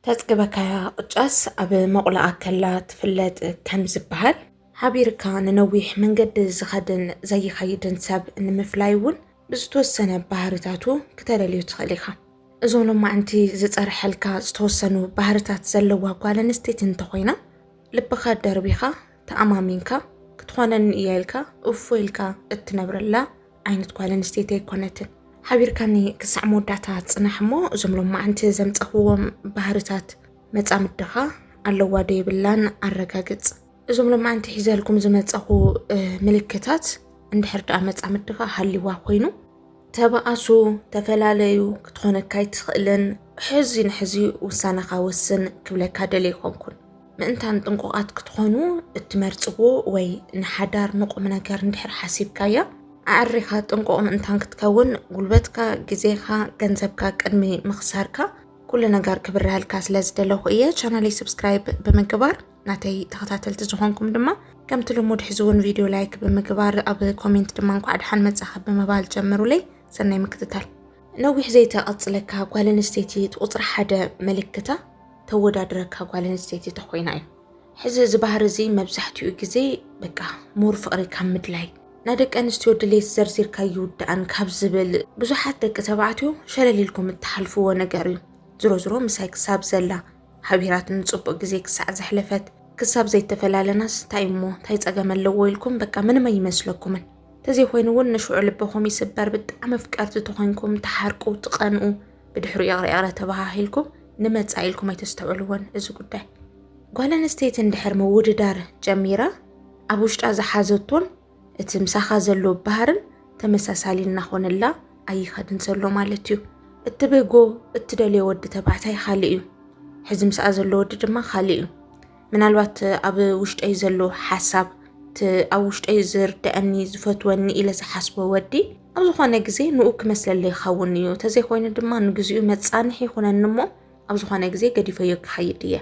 ተጽግበካያ ቅጫስ ኣብ መቑላኣ ከላ ትፍለጥ ከም ዝበሃል፣ ሓቢርካ ንነዊሕ መንገዲ ዝኸድን ዘይኸይድን ሰብ ንምፍላይ እውን ብዝተወሰነ ባህርታቱ ክተለልዮ ትኽእል ኢኻ። እዞ ሎማዕንቲ ዝጸርሐልካ ዝተወሰኑ ባህርታት ዘለዋ ጓል ኣንስተይቲ እንተኾይና ልብኻ ደርቢኻ ተኣማሚንካ ክትኾነኒ እያ ኢልካ እፎይ ኢልካ እትነብረላ ዓይነት ጓል ኣንስተይቲ ኣይኮነትን። ሓቢርካኒ ክሳዕ መወዳእታ ጽናሕ እሞ እዞም ሎማዓንቲ ዘምጸኽዎም ባህርታት መጻምድኻ ኣለዋ ዶ የብላን ኣረጋግጽ። እዞም ሎማዓንቲ ሒዘልኩም ዝመጸኹ ምልክታት እንድሕር ደኣ መጻምድኻ ሃሊዋ ኮይኑ ተባኣሱ፣ ተፈላለዩ፣ ክትኾነካ ኣይትኽእልን፣ ሕዚ ንሕዚ ውሳነኻ ወስን ክብለካ ደልየ ይኾንኩን። ምእንታን ጥንቁቓት ክትኾኑ እትመርጽዎ ወይ ንሓዳር ንቑም ነገር እንድሕር ሓሲብካያ ኣዕሪኻ ጥንቁቕ ምእንታን ክትከውን ጉልበትካ፣ ግዜኻ፣ ገንዘብካ ቅድሚ ምኽሳርካ ኩሉ ነገር ክብረሃልካ ስለ ዝደለኹ እየ። ቻናለይ ሰብስክራይብ ብምግባር ናተይ ተኸታተልቲ ዝኾንኩም ድማ ከምቲ ልሙድ ሕዚ እውን ቪድዮ ላይክ ብምግባር ኣብ ኮሜንት ድማ እንኳዕ ደሓን መጻኻ ብምባል ጀምሩለይ። ሰናይ ምክትታል። ነዊሕ ዘይተቐጽለካ ጓል ኣንስተይቲ እቲ ቁጽሪ ሓደ ምልክታ ተወዳድረካ ጓል ኣንስተይቲ ተኾይና እዩ። ሕዚ እዚ ባህሪ እዚ መብዛሕትኡ ግዜ በቃ ሙር ፍቕሪ ካብ ምድላይ ናይ ደቂ ኣንስትዮ ድሌት ዘርዚርካ ይውዳእን ካብ ዝብል ብዙሓት ደቂ ተባዕትዮ ሸለል ኢልኩም እትሓልፍዎ ነገር እዩ። ዝሮ ዝሮ ምሳይ ክሳብ ዘላ ሓቢራትኒ ጽቡቕ ግዜ ክሳዕ ዘሕለፈት ክሳብ ዘይተፈላለናስ እንታይ እሞ እንታይ ጸገም ኣለዎ ኢልኩም በቃ ምንም ኣይመስለኩምን። ተዘይኮይኑ እውን ንሽዑ ልብኹም ይስበር ብጣዕሚ ፍቀርቲ ተኾይንኩም ተሓርቁ ትቐንኡ ብድሕሪ ይቕረ ይቕረ ተባሃሂልኩም ንመፃኢ ኢልኩም ኣይተስተውዕልዎን እዚ ጉዳይ ጓል ኣንስተይቲ እንድሕር ምውድዳር ጀሚራ ኣብ ውሽጣ ዝሓዘቶን እቲ ምሳኻ ዘሎ ባህርን ተመሳሳሊ እናኾነላ ኣይኸድን ዘሎ ማለት እዩ እትብህጎ እትደልዮ ወዲ ተባዕታይ ካልእ እዩ ሕዚ ምስኣ ዘሎ ወዲ ድማ ካልእ እዩ ምናልባት ኣብ ውሽጠይ ዘሎ ሓሳብ እቲ ኣብ ውሽጠይ ዝርድአኒ ዝፈትወኒ ኢለ ዝሓስቦ ወዲ ኣብ ዝኾነ ግዜ ንኡ ክመስለለይ ይኸውን እዩ ተዘይኮይኑ ድማ ንግዚኡ መጻንሒ ይኹነኒ እሞ ኣብ ዝኾነ ግዜ ገዲፈዮ ክኸይድ እየ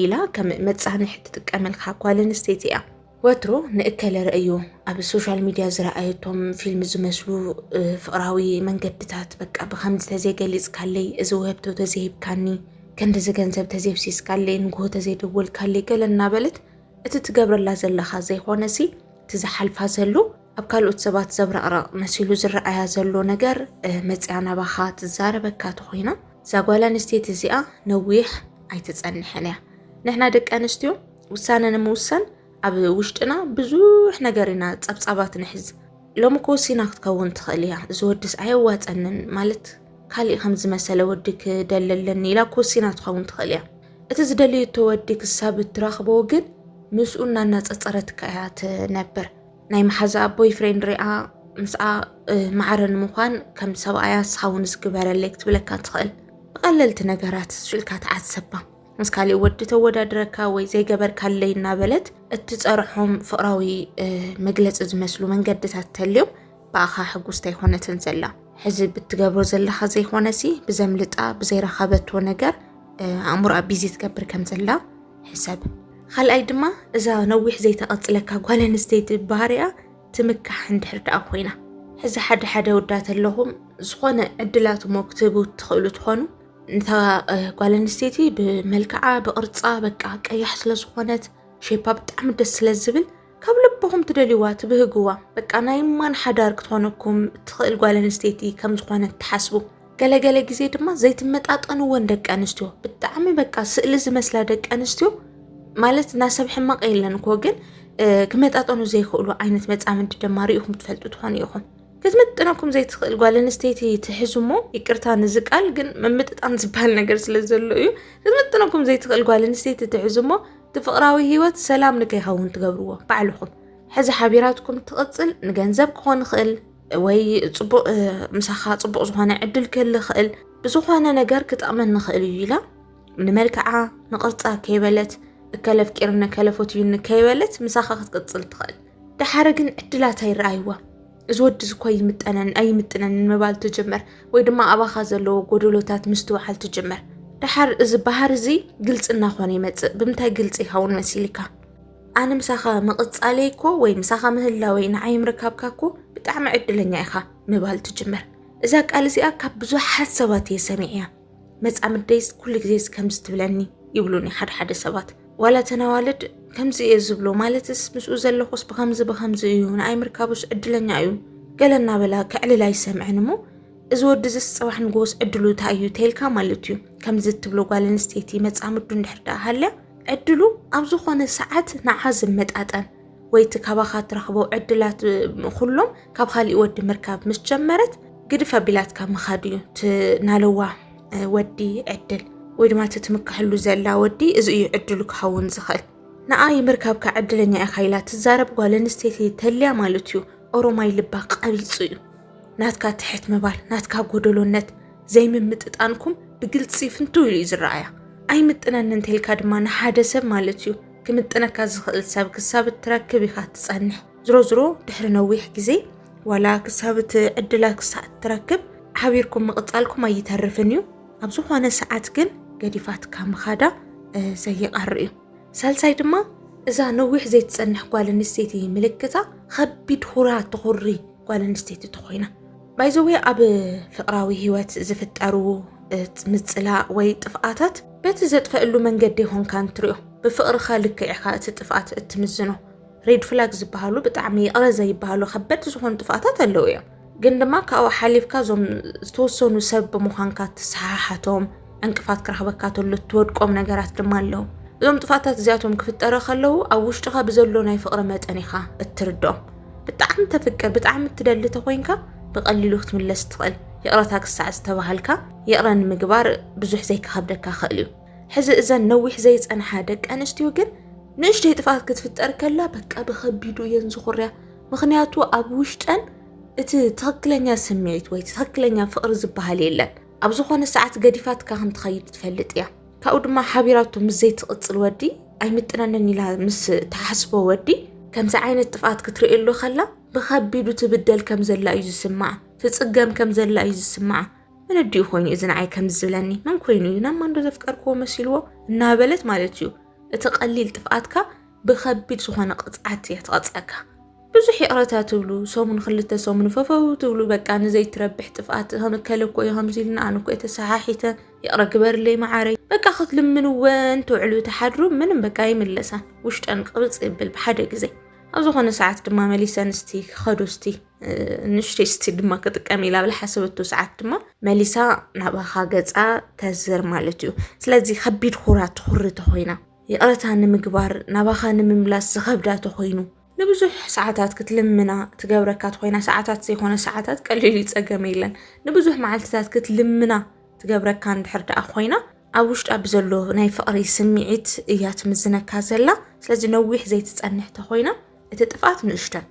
ኢላ ከም መጻንሒ ትጥቀመልካ ጓል ኣንስተይቲ እያ ወትሩ ንእከለ ርእዩ ኣብ ሶሻል ሚድያ ዝረኣየቶም ፊልም ዝመስሉ ፍቕራዊ መንገድታት በቃ ብከምዚ ተዘይገሊፅካለይ እዚ ውህብቶ ተዘይሂብካኒ ክንዲዚ ገንዘብ ተዘይፍሲስካለይ ንግሆ ተዘይደወልካለይ ገለ እናበለት እቲ ትገብረላ ዘለኻ ዘይኾነ ሲ እቲ ዝሓልፋ ዘሎ ኣብ ካልኦት ሰባት ዘብረቕረቕ መሲሉ ዝረኣያ ዘሎ ነገር መፅያ ናባኻ ትዛረበካ ተኾይና እዛ ጓል ኣንስተይቲ እዚኣ ነዊሕ ኣይትፀንሕን እያ ንሕና ደቂ ኣንስትዮ ውሳነ ንምውሳን ኣብ ውሽጥና ብዙሕ ነገር ኢና ጸብጻባት ንሕዝ ሎሚ ክወሲና ክትከውን ትኽእል እያ እዚ ወድስ ኣየዋፀንን ማለት ካሊእ ከም ዝመሰለ ወዲ ክደሊ ኣለኒ ኢላ ክወሲና ትኸውን ትኽእል እያ እቲ ዝደልየቶ ወዲ ክሳብ እትረኽቦ ግን ምስኡ እናናፀፀረትካ እያ ትነብር ናይ መሓዛ ኣቦይ ፍሬንድ ሪኣ ምስኣ ማዕረ ንምዃን ከም ሰብኣያ ስኻውን ዝግበረለይ ክትብለካ ትኽእል ብቐለልቲ ነገራት ሽልካ ተዓሰባ ምስ ካሊእ ወዲ ተወዳድረካ ወይ ዘይገበርካለይ እናበለት እትፀርሖም ፍቕራዊ መግለፂ ዝመስሉ መንገድታት ተልዮም ብኣኻ ሕጉስቲ ኣይኮነትን ዘላ ሕዚ ብትገብሮ ዘለኻ ዘይኮነሲ ብዘምልጣ ብዘይረኸበቶ ነገር ኣእምሮኣ ቢዚ ትገብር ከም ዘላ ሕሰብ ካልኣይ ድማ እዛ ነዊሕ ዘይተቐፅለካ ጓል ኣንስተይቲ ባህሪያ ትምካሕ እንድሕር ደኣ ኮይና ሕዚ ሓደ ሓደ ወዳት ኣለኹም ዝኾነ ዕድላትሞ ክትህቡ ትኽእሉ ትኾኑ እንታ ጓል ኣንስተይቲ ብመልክዓ ብቕርፃ በቃ ቀያሕ ስለዝኾነት ሼፓ ብጣዕሚ ደስ ስለዝብል ካብ ልብኹም ትደልይዋ ትብህግዋ በቃ ናይ ማን ሓዳር ክትኾነኩም እትኽእል ጓል ኣንስተይቲ ከም ዝኾነት ትሓስቡ ገለገለ ግዜ ድማ ዘይትመጣጠንወን ደቂ ኣንስትዮ ብጣዕሚ በቃ ስእሊ ዝመስላ ደቂ ኣንስትዮ ማለት ናሰብ ሕማቕ የለን እኮ ግን ክመጣጠኑ ዘይክእሉ ዓይነት መፃምዲ ድማ ሪኢኹም ትፈልጡ ትኾኑ ኢኹም ክትምጥነኩም ዘይትኽእል ጓል ኣንስተይቲ ትሕዙ እሞ ይቅርታ ንዚ ቃል ግን ምምጥጣን ዝበሃል ነገር ስለ ዘሎ እዩ ክትምጥነኩም ዘይትኽእል ጓል ኣንስተይቲ ትሕዙ እሞ እቲ ፍቕራዊ ሂወት ሰላም ንከይኸውን ትገብርዎ ባዕልኹም ሕዚ ሓቢራትኩም ትቕፅል ንገንዘብ ክኾን ይኽእል ወይ ፅቡቅ ምሳኻ ፅቡቅ ዝኾነ ዕድል ክህል ይኽእል ብዝኾነ ነገር ክጠቕመን ንኽእል እዩ ኢላ ንመልክዓ ንቕርፃ ከይበለት እከለ ኣፍቂርኒ ከይበለት ምሳኻ ክትቅፅል ትኽእል ደሓረ ግን ዕድላት ኣይረኣይዋ እዚ ወዲ እዚ እኮ ይምጠነን ኣይምጥነንን ምባል ትጅምር ወይ ድማ ኣባኻ ዘለዎ ጎደሎታት ምስትውዓል ትጅምር ደሓር እዚ ባህር እዚ ግልፂ እናኾነ ይመፅእ ብምንታይ ግልፂ ይኸውን መሲልካ ኣነ ምሳኻ ምቕፃለይ እኮ ወይ ምሳኻ ምህላወይ ንዓይ ምርካብካ እኮ ብጣዕሚ ዕድለኛ ኢኻ ምባል ትጅምር እዛ ቃል እዚኣ ካብ ብዙሓት ሰባት እየ ሰሚዕያ መፃምደይስ ኩሉ ግዜስ ከምዚ ትብለኒ ይብሉኒ ሓደ ሓደ ሰባት ዋላ እተን ኣዋልድ ከምዚ እየ ዝብሎ ማለትስ ምስኡ ዘለኹስ ብከምዚ ብከምዚ እዩ ንኣይ ምርካቡስ ዕድለኛ እዩ ገለ እናበላ ከዕልል ኣይሰምዐን እሞ እዚ ወዲ እዚስ ፅባሕ ንጎስ ዕድሉ እንታይ እዩ ተይልካ ማለት እዩ ከምዚ እትብሎ ጓል ኣንስተይቲ መፃምዱ እንድሕር ደኣ ሃልያ ዕድሉ ኣብ ዝኾነ ሰዓት ንዓ ዝመጣጠን ወይ እቲ ካባኻ እትረኽቦ ዕድላት ኩሎም ካብ ካሊእ ወዲ ምርካብ ምስ ጀመረት ግድፍ ኣቢላትካ ምኻድ እዩ ናለዋ ወዲ ዕድል ወይ ድማ እቲ ትምካሕሉ ዘላ ወዲ እዚ እዩ ዕድሉ ክኸውን ዝኽእል ንኣ ይምርካብካ ዕድለኛ ኢኻ ኢላ ትዛረብ ጓል ኣንስተይቲ ተልያ ማለት እዩ ኦሮማይ ልባ ቀቢፁ እዩ ናትካ ትሕት ምባል ናትካ ጎደሎነት ዘይምምጥጣንኩም ብግልፂ ፍንትው ኢሉ እዩ ዝረኣያ ኣይምጥነኒ እንተልካ ድማ ንሓደ ሰብ ማለት እዩ ክምጥነካ ዝኽእል ሰብ ክሳብ እትረክብ ኢኻ ትጸንሕ። ዝሮ ዝሮ ድሕሪ ነዊሕ ግዜ ዋላ ክሳብ እቲ ዕድላ ክሳዕ እትረክብ ሓቢርኩም ምቕጻልኩም ኣይተርፍን እዩ። ኣብ ዝኾነ ሰዓት ግን ገዲፋትካ ምኻዳ ዘይቐር እዩ። ሳልሳይ ድማ እዛ ነዊሕ ዘይትጸንሕ ጓል ኣንስተይቲ ምልክታ ኸቢድ ሁራ ትኹሪ ጓል ኣንስተይቲ ተኾይና ባይዘዌ ኣብ ፍቅራዊ ህይወት ዝፍጠሩ ምጽላእ ወይ ጥፍኣታት በቲ ዘጥፈእሉ መንገዲ ኾንካ እንትሪኦ ብፍቅርኻ ልክዕ ኢኻ እቲ ጥፍኣት እትምዝኖ ሬድ ፍላግ ዝበሃሉ ብጣዕሚ ይቕረ ዘይበሃሉ ከበድቲ ዝኾኑ ጥፍኣታት ኣለዉ እዮም ግን ድማ ካብኡ ሓሊፍካ እዞም ዝተወሰኑ ሰብ ብምዃንካ ትሰሓሓቶም ዕንቅፋት ክረኽበካ ተሎ እትወድቆም ነገራት ድማ ኣለዉ እዞም ጥፋታት እዚኣቶም ክፍጠረ ከለዉ ኣብ ውሽጥኻ ብዘሎ ናይ ፍቕሪ መጠን ኢኻ እትርድኦም ብጣዕሚ ተፍቅር ብጣዕሚ እትደሊ ተኮይንካ ብቐሊሉ ክትምለስ ትኽእል ይቕረታ ክሳዕ ዝተባሃልካ ይቕረ ንምግባር ብዙሕ ዘይክኸብደካ ክእል እዩ ሕዚ እዘን ነዊሕ ዘይፀንሓ ደቂ ኣንስትዮ ግን ንእሽተይ ጥፍኣት ክትፍጠር ከላ በቃ ብከቢዱ እየን ዝኹርያ ምክንያቱ ኣብ ውሽጠን እቲ ትክክለኛ ስምዒት ወይ ትክክለኛ ፍቅሪ ዝበሃል የለን ኣብ ዝኾነ ሰዓት ገዲፋትካ ከም ትኸይድ ትፈልጥ እያ። ካብኡ ድማ ሓቢራቶ ምስ ዘይትቕጽል ወዲ ኣይምጥነንን ኢላ ምስ ትሓስቦ ወዲ ከምዚ ዓይነት ጥፍኣት ክትርእየሉ ከላ ብኸቢዱ ትብደል ከም ዘላ እዩ ዝስምዓ፣ ትጽገም ከም ዘላ እዩ ዝስምዓ። መነዲኡ ኮይኑ እዚ ንዓይ ከምዚ ዝብለኒ መን ኮይኑ እዩ ናብ ማንዶ ዘፍቀርክዎ መሲልዎ እናበለት ማለት እዩ እቲ ቀሊል ጥፍኣትካ ብከቢድ ዝኾነ ቅፅዓት እያ ትቐፅዐካ። ብዙሕ ይቕረታ ትብሉ ሰሙን ክልተ ሰሙን ፈፈው ትብሉ በቃ ንዘይትረብሕ ጥፍኣት ከመከለ እኮ እዩ ከምዚ ኢልና ኣነ እኮ እየ ተሰሓሒተ ይቕረ ግበርለይ መዓረይ በቃ ክትልምንወን ትውዕሉ ተሓድሩ ምንም በቃ ይምለሳን ውሽጠን ቅብፅ ይብል ብሓደ ግዜ ኣብ ዝኾነ ሰዓት ድማ መሊሰን እስቲ ክኸዱ እስቲ ንሽተይ እስቲ ድማ ክጥቀም ኢላ ብላ ሓሰበቱ ሰዓት ድማ መሊሳ ናባኻ ገፃ ተዝር ማለት እዩ ስለዚ ከቢድ ኩራ ትኹሪ ተኮይና ይቕረታ ንምግባር ናባኻ ንምምላስ ዝኸብዳ ተኾይኑ ንብዙሕ ሰዓታት ክትልምና ትገብረካ ተኾይና ሰዓታት ዘይኮነ ሰዓታት ቀሊል ይጸገም የለን ንብዙሕ መዓልትታት ክትልምና ትገብረካ እንድሕር ደኣ ኮይና ኣብ ውሽጣ ብዘሎ ናይ ፍቕሪ ስምዒት እያ ትምዝነካ ዘላ ስለዚ ነዊሕ ዘይትጸንሕ ተኾይና እቲ ጥፍኣት ንእሽተን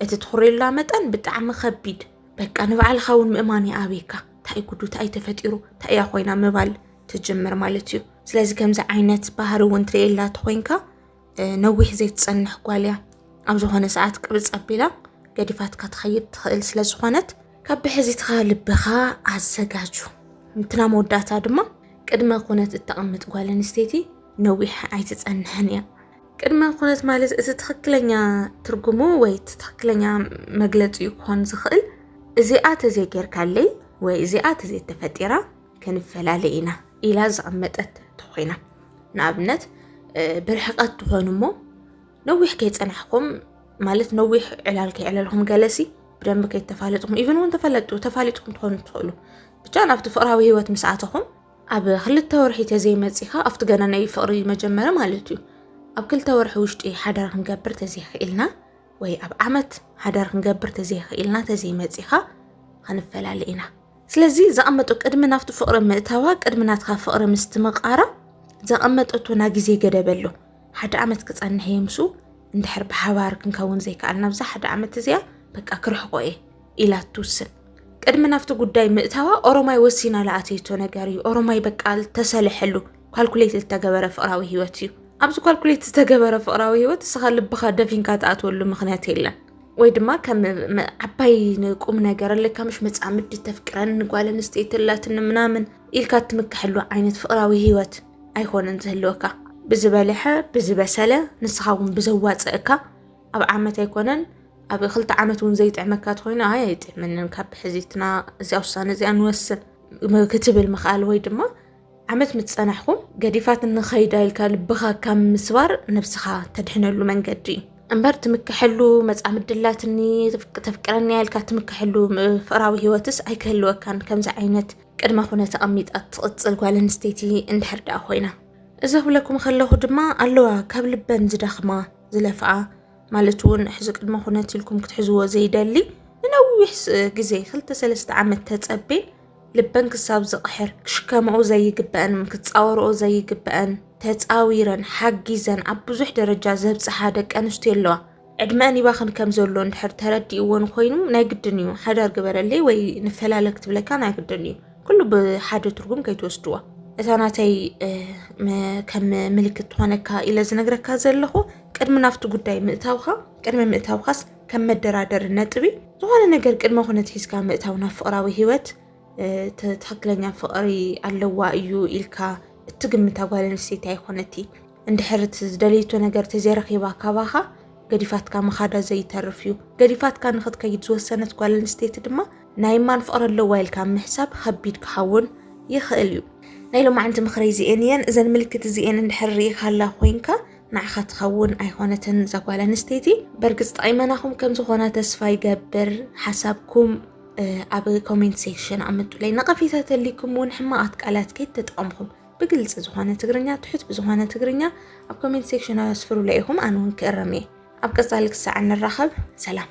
እቲ ትኹሬላ መጠን ብጣዕሚ ከቢድ በቃ ንባዕልኻ እውን ምእማን ይኣብየካ እንታይ ጉዱ እንታይ ተፈጢሩ እንታይ እያ ኮይና ምባል ትጅምር ማለት እዩ ስለዚ ከምዚ ዓይነት ባህሪ እውን ትርእየላ ተኮይንካ ነዊሕ ዘይትፀንሕ ጓል እያ ኣብ ዝኾነ ሰዓት ቅብፅ ኣቢላ ገዲፋትካ ትኸይድ ትኽእል ስለ ዝኾነት ካብ ብሕዚትኻ ልብኻ ኣዘጋጁ እንትና መወዳእታ ድማ ቅድመ ኩነት እተቐምጥ ጓል ኣንስተይቲ ነዊሕ ኣይትፀንሕን እያ ቅድመ ኩነት ማለት እቲ ትኽክለኛ ትርጉሙ ወይ እቲ ትኽክለኛ መግለፂ ክኾን ዝኽእል እዚኣ ተዘይጌርካለይ ወይ እዚኣ ተዘይተፈጢራ ክንፈላለ ኢና ኢላ ዝቐመጠት ተኾይና ንኣብነት ብርሕቐት ትኾኑ እሞ ነዊሕ ከይፀናሕኩም ማለት ነዊሕ ዕላል ከይዕለልኩም ገለሲ ብደንብ ከይተፋለጥኩም ኢቨን እውን ተፈለጡ ተፋሊጥኩም ትኾኑ ትኽእሉ ብቻ ናብቲ ፍቅራዊ ሂወት ምስ ኣተኹም ኣብ ክልተ ወርሒ ተዘይመፂኻ ኣብቲ ገና ናይ ፍቅሪ መጀመረ ማለት እዩ ኣብ ክልተ ወርሒ ውሽጢ ሓዳር ክንገብር ተዘይኽኢልና ወይ ኣብ ዓመት ሓዳር ክንገብር ተዘይኽኢልና ተዘይመፂኻ ክንፈላለ ኢና ስለዚ ዘቐመጦ ቅድሚ ናብቲ ፍቕሪ ምእታዋ ቅድሚ ናትካ ፍቕሪ ምስትምቓራ ዘቐመጠቶ ናይ ግዜ ገደብ ኣሎ ሓደ ዓመት ክጸንሕ እየ ምስኡ እንድሕር ብሓባር ክንከውን ዘይከኣል ናብዛ ሓደ ዓመት እዚኣ በቃ ክርሕቆ እየ ኢላ ትውስን ቅድሚ ናብቲ ጉዳይ ምእታዋ ኦሮማይ ወሲና ለኣተይቶ ነገር እዩ ኦሮማይ በቃ ተሰለሐሉ ኳልኩሌት ዝተገበረ ፍቕራዊ ህይወት እዩ ኣብዚ ኳልኩሌት ዝተገበረ ፍቕራዊ ህይወት እስኻ ልብኻ ደፊንካ ትኣትወሉ ምክንያት የለን ወይ ድማ ከም ዓባይ ንቁም ነገር ኣለካ ምሽ መፃምዲ ተፍቅረን ጓል ኣንስተይቲ ኣላትኒ ምናምን ኢልካ እትምክሐሉ ዓይነት ፍቅራዊ ሂወት ኣይኮነን ዝህልወካ ብዝበልሐ ብዝበሰለ ንስኻ እውን ብዘዋፅእካ ኣብ ዓመት ኣይኮነን ኣብ ክልተ ዓመት እውን ዘይጥዕመካ ተኮይኑ ኣይ ኣይጥዕመንን ካብ ሕዚትና እዚኣ ውሳነ እዚኣ ንወስን ክትብል ምኽኣል ወይ ድማ ዓመት ምስ ጸናሕኩም ገዲፋትኒ ኸይዳ ኢልካ ልብኻ ካብ ምስባር ነብስኻ ተድሕነሉ መንገዲ እምበር ትምክሐሉ መጻምዲ ኣላትኒ ተፍቅረኒ ኢልካ ትምክሐሉ ፍቕራዊ ህይወትስ ኣይክህልወካን ከምዚ ዓይነት ቅድመ ኩነት ኣቐሚጣ ትቕጽል ጓል ኣንስተይቲ እንድሕር ደኣ ኮይና እዚ ክብለኩም ከለኹ ድማ ኣለዋ ካብ ልበን ዝደኽማ ዝለፍኣ ማለት እውን ሕዚ ቅድመ ኩነት ኢልኩም ክትሕዝዎ ዘይደሊ ንነዊሕ ግዜ ክልተ ሰለስተ ዓመት ተጸቤን ልበን ክሳብ ዝቕሕር ክሽከማኡ ዘይግበኣን ክፃወርኦ ዘይግበኣን ተፃዊረን ሓጊዘን ኣብ ብዙሕ ደረጃ ዘብፅሓ ደቂ ኣንስትዮ ኣለዋ። ዕድመን ይባኽን ከም ዘሎ እንድሕር ተረዲእዎን ኮይኑ ናይ ግድን እዩ ሓዳር ግበረለይ ወይ ንፈላለ ክትብለካ ናይ ግድን እዩ ኩሉ ብሓደ ትርጉም ከይትወስድዎ እታ ናተይ ከም ምልክት ትኾነካ ኢለ ዝነግረካ ዘለኹ ቅድሚ ናብቲ ጉዳይ ምእታውካ ቅድሚ ምእታውካስ ከም መደራደሪ ነጥቢ ዝኾነ ነገር ቅድመ ኩነት ሒዝካ ምእታው ናብ ፍቕራዊ ሂወት ትክክለኛ ፍቕሪ ኣለዋ እዩ ኢልካ እትግምታ ጓል ኣንስተይቲ ኣይኮነቲ እንድሕር ዝደለይቶ ነገር ተዘይረኺባ ካባኻ ገዲፋትካ ምኻዳ ዘይተርፍ እዩ ገዲፋትካ ንክትከይድ ዝወሰነት ጓል ኣንስተይቲ ድማ ናይ ማን ፍቕሪ ኣለዋ ኢልካ ምሕሳብ ከቢድ ክኸውን ይኽእል እዩ ናይ ሎማዓንቲ ምኽረይ እዚኤን እየን እዘን ምልክት እዚኤን እንድሕር ርኢኻላ ኮይንካ ንዓኻ ትኸውን ኣይኾነትን እዛ ጓል ኣንስተይቲ በርግፅ ጠቂመናኹም ከም ዝኾና ተስፋ ይገብር ሓሳብኩም ኣብ ኮሜንት ሴክሽን ኣምጡለይ ነቐፌታ ተልይኩም እውን ሕማቓት ቃላት ከይተጠቐምኹም ብግልፂ ዝኾነ ትግርኛ ትሑት ብዝኾነ ትግርኛ ኣብ ኮሜንት ሴክሽን ኣስፍሩለይ ኢኹም ኣነ እውን ክእረም እየ ኣብ ቀፃሊ ክሳዕ ንራኸብ ሰላም